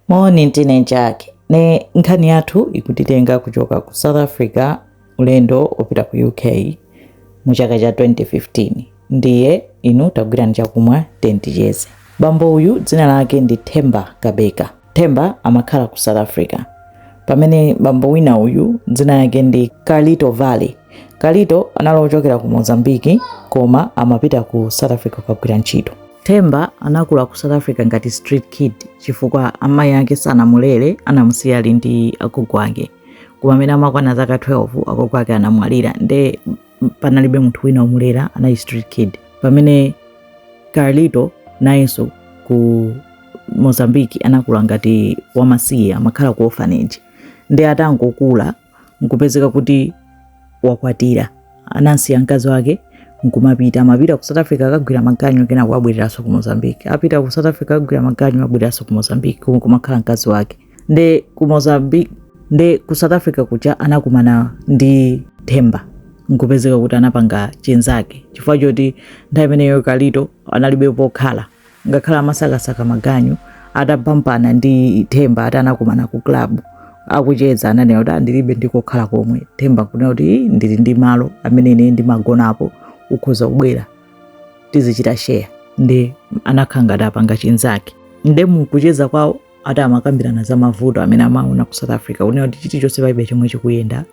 Moni ndine Jack ne nkhani yathu ikutitenga kuchoka ku South Africa ulendo opita ku UK mu chaka cha 2015 ndiye inu tagwirani chakumwa tenticheze bambo uyu dzina lake ndi Themba Cabeka Themba amakhala ku South Africa pamene bambo wina uyu dzina lake ndi Carlito Vale Carlito anali ochokera ku Mozambique koma amapita ku South Africa kukagwira ntchito Themba anakula ku South Africa ngati street kid chifukwa amayi ake sanamulere, anamusiya ali ndi agogo ake. Koma mmene amakwana zaka 12 agogo ake anamwalira nde panalibe munthu wina omulera, anali street kid. Pamene Carlito nayenso ku Mozambique anakula ngati wamasiye amakhala ku orphanage. Nde atangokula nkupezeka kuti wakwatira anamsiya mkazi wake nkumapita amapita ku south africa akagwira maganyu kenako abwereranso ku mozambique apita ku south africa akagwira maganyu abwereranso ku mozambique komwe kumakhala mkazi wake nde ku mozambique nde ku south africa kuja anakumana ndi themba nkupezeka kuti anapanga chinzake chifukwa choti nthawi imeneyo carlito analibe pokhala ngakhale amasakasaka maganyu atabampana ndi themba ati anakumana ku club akucheza ananena kuti ndilibe ndikokhala komwe themba kunena kuti ndili ndi malo amene ine ndimagonapo ukhoza kubwera tizichita share nde anakhala ngati apanga chinzake nde mukucheza kwawo ati amakambirana za mavuto amene amaona ku south africa kunena kuti chilichonse palibe chomwe chikuyenda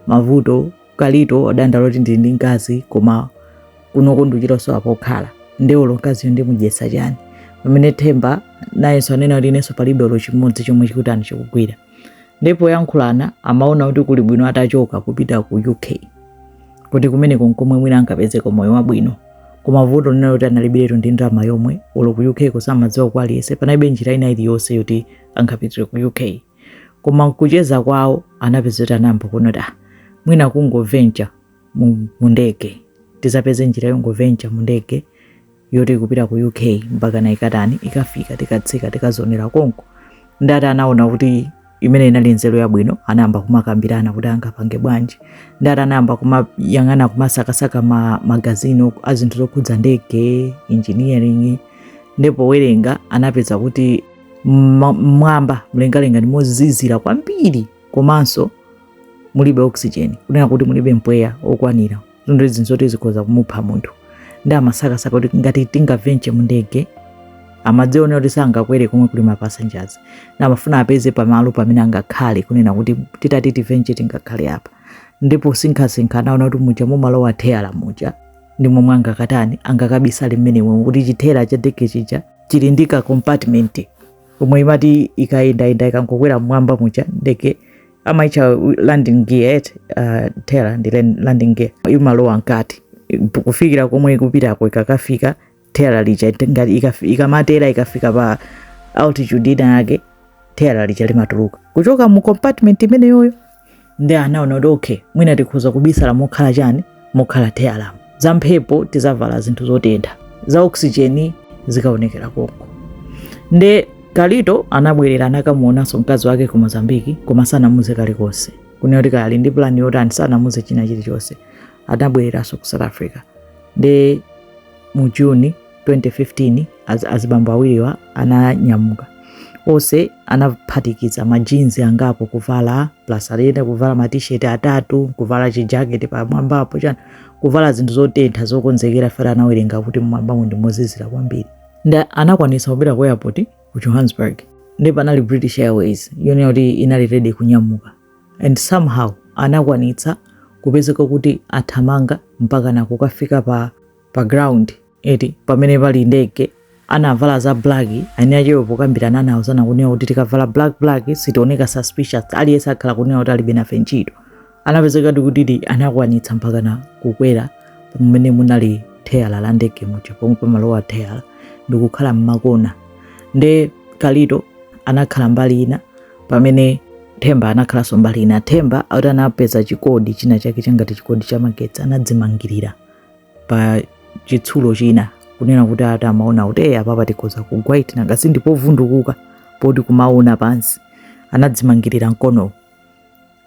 mavuto carlito adandaula kuti ndili ndi mkazi koma kunoko ndikuchita kusowa pokhala nde olo mkaziyo ndimudyetsa chani pamene themba nayenso anena kuti inenso palibe olo chimodzi chomwe chikutani chikugwira nde poyankhulana amaona kuti kuli bwino atachoka kupita ku uk kuti kumeneko nkomwe mwina angapezeko moyo wabwino koma vuto linali kuti analibiretu ndi ndalama yomwe olo ku uk ko samadziwako aliyense panalibe njira ina iliyonse yoti angapitire ku uk koma mkucheza kwawo anapeza kuti anayamba kuona kuti ah, mwina kungovencha mu mu ndege tizapeze njira yongovencha mu ndege yoti ikupita ku uk mpakana ikatani ikafika tikatsika tikazonera konko ndati anaona kuti imeneyi inali nzeru yabwino anayamba kumakambirana kuti angapange bwanji ndati anayamba kumayang'ana kumasakasaka ma, magazini ok- a zinthu zokhudza ndege engineering nde powerenga anapeza kuti mmwamba mlengalenga ndi mozizira kwambiri komanso mulibe oxygen kunena kuti mulibe mpweya okwanira zinthu izi nzoti zikhoza kumupha munthu nde amasakasaka kuti ngati tingavenche mu ndege amadziona kuti sangakwere komwe kuli ma passengers nde amafuna apeze pamalo pamene angakhale kunena kuti titati tivenche tingakhale apa nde posinkhasinkha anaona kuti muja mumalowa theyala muja ndi momwe angakatani angakabisale mmenemo kuti chitheyala cha ndege chija chili ndi ka compartment komwe imati ikayendayenda ikangokwera mmwamba muja ndege amaitcha landing gear eti uh, theyala ndi len- landing gear imalowa mkati Ipu- kufikira komwe ikupitako ikakafika theyala lija ite- ngati ikafi- ikamatera ikafika pa altitude ina yake theyala lija limatuluka kuchoka mu compartment imeneyoyo ndi anaona kuti okay mwina tikhoza kubisala mokhala chani mokhala theyalamu za mphepo tizavala zinthu zotentha za oxygen zikaonekera konko nde carlito anabwerera anakamuonanso mkazi wake ku mozambiki koma sanamuze kalikonse kunena kuti kaya ali ndi plani yotani sanamuze china chilichonse anabwereranso ku south africa nde mu juni 2015 azibambo awiriwa ananyamuka onse anaphatikiza majinzi angapo kuvala plus aliyense kuvala matisheti atatu kuvala chijaketi pamwambapo chani kuvala zinthu zotentha zokonzekera chifukwa anawerenga kuti mmwambamo ndi mozizira kwambiri nde anakwanisa kupita ku airport ku johannesburg ndi panali british airways yonena kuti inali ready kunyamuka and somehow anakwanitsa kupezeka kuti athamanga mpaka nakukafika pa pa ground eti pamene pali ndege anavala za black ani achewe pokambirana anauzana kunena kuti tikavala black black sitioneka suspicious aliyense akhala kunena kuti alibe nafe ntchito anapezeka ndi kuti anakwanitsa mpaka na kukwera pamene munali theyala la ndege muja pomwe pamalowa theyala ndikukhala mmakona nde carlito anakhala mbali ina pamene themba anakhalanso mbali ina themba akuti anapeza chikodi china chake changati chikodi cha magetsi anadzimangirira pa chitsulo china kunena kuti ati amaona kuti eyi apapa tikhoza kugwa eti nanga si ndipovundukuka poti kumaona pansi anadzimangirira mkonowo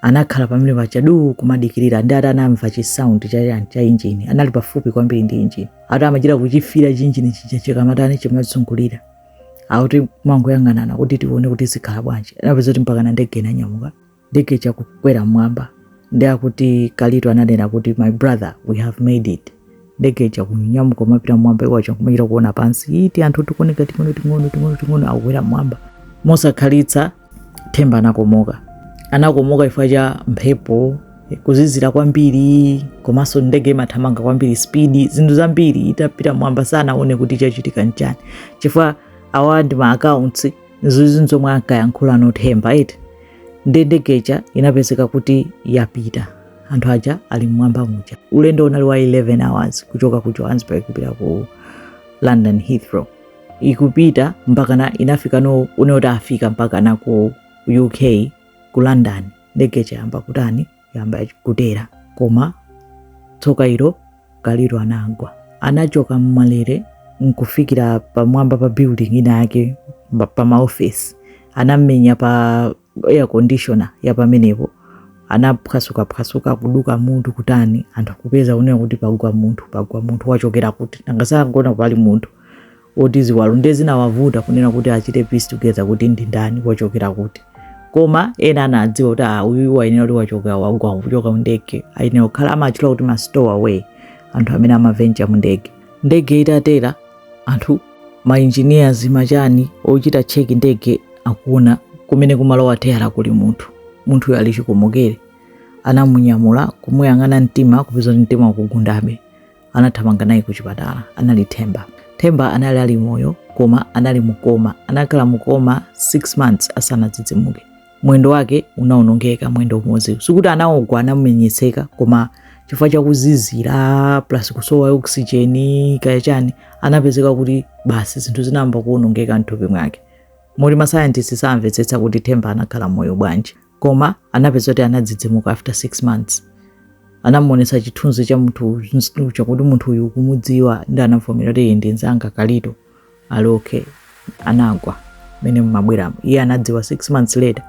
anakhala pamene paja duu kumadikirira ndi ati anamva chisaundi chachani cha injini anali pafupi kwambiri ndi injini ati amachita kuchifira chinjini chija chikamatani chimazungulira akuti amangoyang'anana kuti tione kuti zikhala bwanji anapeza kuti mpakana ndege inanyamuka ndege ija ikukwera mmwamba ndi akuti carlito ananena kuti my brother we have made it ndege ija ikunyamuka kumapita mmwamba iwo aja kumachita kuona pansi tianthu tikuoneka ting'ono ting'ono ting'ono ting'ono akukwera mmwamba mosakhalitsa themba anakomoka anakomoka chifukwa cha mphepo kuzizira kwambiri komanso ndege imathamanga kwambiri spidi zinthu zambiri itapita mmwamba sanaone kuti chachitika nchani chifukwa awa ndi ma accounts zizi nzomwe ankayankhula no themba eti ndi ndege ija inapezeka kuti yapita anthu aja ali mmwamba muja ulendo unali wa 11 hours kuchoka ku johannesburg kupita ku london heathrow ikupita mpakana inafika no kunena kuti afika mpakana ku uk ku london ndege ija yamba kutani yamba kutera koma tsoka ilo kalito anagwa anachoka mmalere nkufikira pamwamba pa building ina yake pa- pa maofesi anamenya pa air conditioner ya pamenepo anaphwasukaphwasuka kuduka mutu kutani anthu kupeza unena kuti pagwa munthu pagwa munthu wachokera kuti nanga sakuona pali munthu ndi ziwalo ndiye zinawavuta kunena kuti achite piece together kuti ndi ndani wachokera kuti koma ena anadziwa kuti ah, uyu wayenera kuti wachoka wagwa kuchoka mundege ayenera kukhala amachula kuti ma stowaway anthu amene amavenja mundege ndege itatera anthu mainjiniyazi ndi achani ochita cheki ndege akuona kumene kumalowa tayala kuli munthu munthuyo ali chikomokere anamunyamula kumuyang'ana mtima kupeza kuti mtima ukugundabe anathamanga naye ku chipatala anali themba themba anali ali moyo koma anali mukoma anakhala mukoma 6 months asanadzidzimuke mwendo wake unaonongeka mwendo umodzi sikuti anagwa anamenyetseka koma chifukwa cha kuzizira plus kusowa oxygen kaya chani anapezeka kuti basi zinthu zinayamba kuonongeka mthupi mwake moti masayantisti samvetsetsa kuti themba anakhala moyo bwanji koma anapeza kuti anadzidzimuka after 6 months anamuonesa chithunzi cha munthu chakuti munthu uyu ukumudziwa nde anavomera kuti iye ndi nzanga kalito ali okay anagwa mmene mumabweramo iye anadziwa 6 months later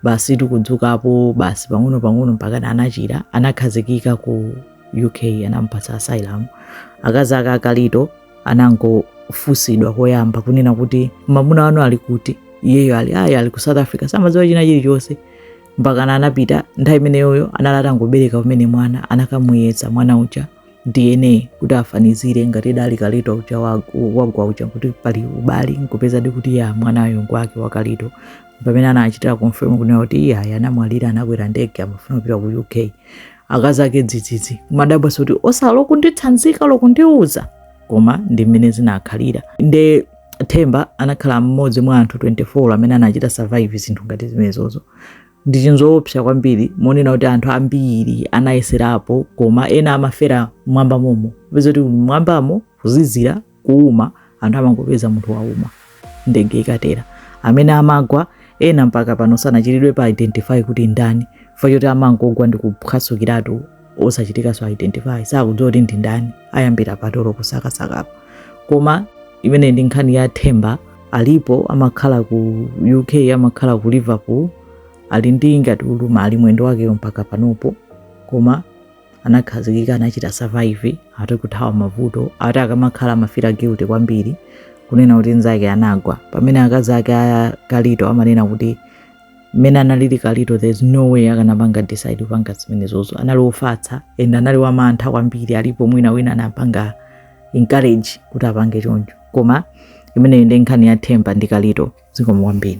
basi ndikudzukapo basi pang'ono pang'ono mpaka anachira anakhazikika ku uk anamupatsa asylum akazi ake akalito anangofunsidwa koyamba kunena kuti mamuna wanu ali kuti iyeyo ali ayi ali ku south africa samadziwa china chilichonse mpakana anapita nthawi imeneyoyo anali atangobereka kumene mwana anakamuyeza mwana uja dna kuti afanizire ngati ndi a kalito uja wa- wagwa uja kuti pali ubali nkupezadi kuti ya mwanayo ngwake wa kalito pamene anachitira confirm kunena kuti iye ayi anamwalira anakwera ndege amafuna kupita ku uk akazi ake dzidzidzi kumadabwa kuti osa olo kunditsanzika olo kundiuza koma ndi mmene zinakhalira nde themba anakhala mmodzi mwa anthu 24 amene anachita survive zinthu ngati zimenezozo ndi chinthu choopsa kwambiri monena kuti anthu ambiri anayeserapo koma ena amafera mmwamba momo peza kuti mwambamo kuzizira kuuma anthu amangopeza munthu wauma ndege ikatera amene amagwa ena mpaka pano sanachitidwepo identify kuti ndani chifukwa choti amangogwa ndi kuphwasukiratu osachitikanso identify sakudziwa kuti ndi ndani ayambira pati olo kusakasakapo koma imeneyo ndi nkhani ya themba alipo amakhala ku uk amakhala ku liverpool ali ndi ngati ulumali mwendo wakeyo mpaka panopo koma anakhazikika anachita survive ati kuthawa mavuto ati akamakhala amafira guilty kwambiri kunena kuti nzake anagwa pamene akazi ake a kalito amanena kuti mmene analili kalito there's no way akanapanga decide kupanga zimenezozo anali ofatsa and anali wamantha kwambiri alipo mwina wina anapanga encourage kuti apange choncho koma imeneyo ndi nkhani ya themba ndi kalito zikomo kwambiri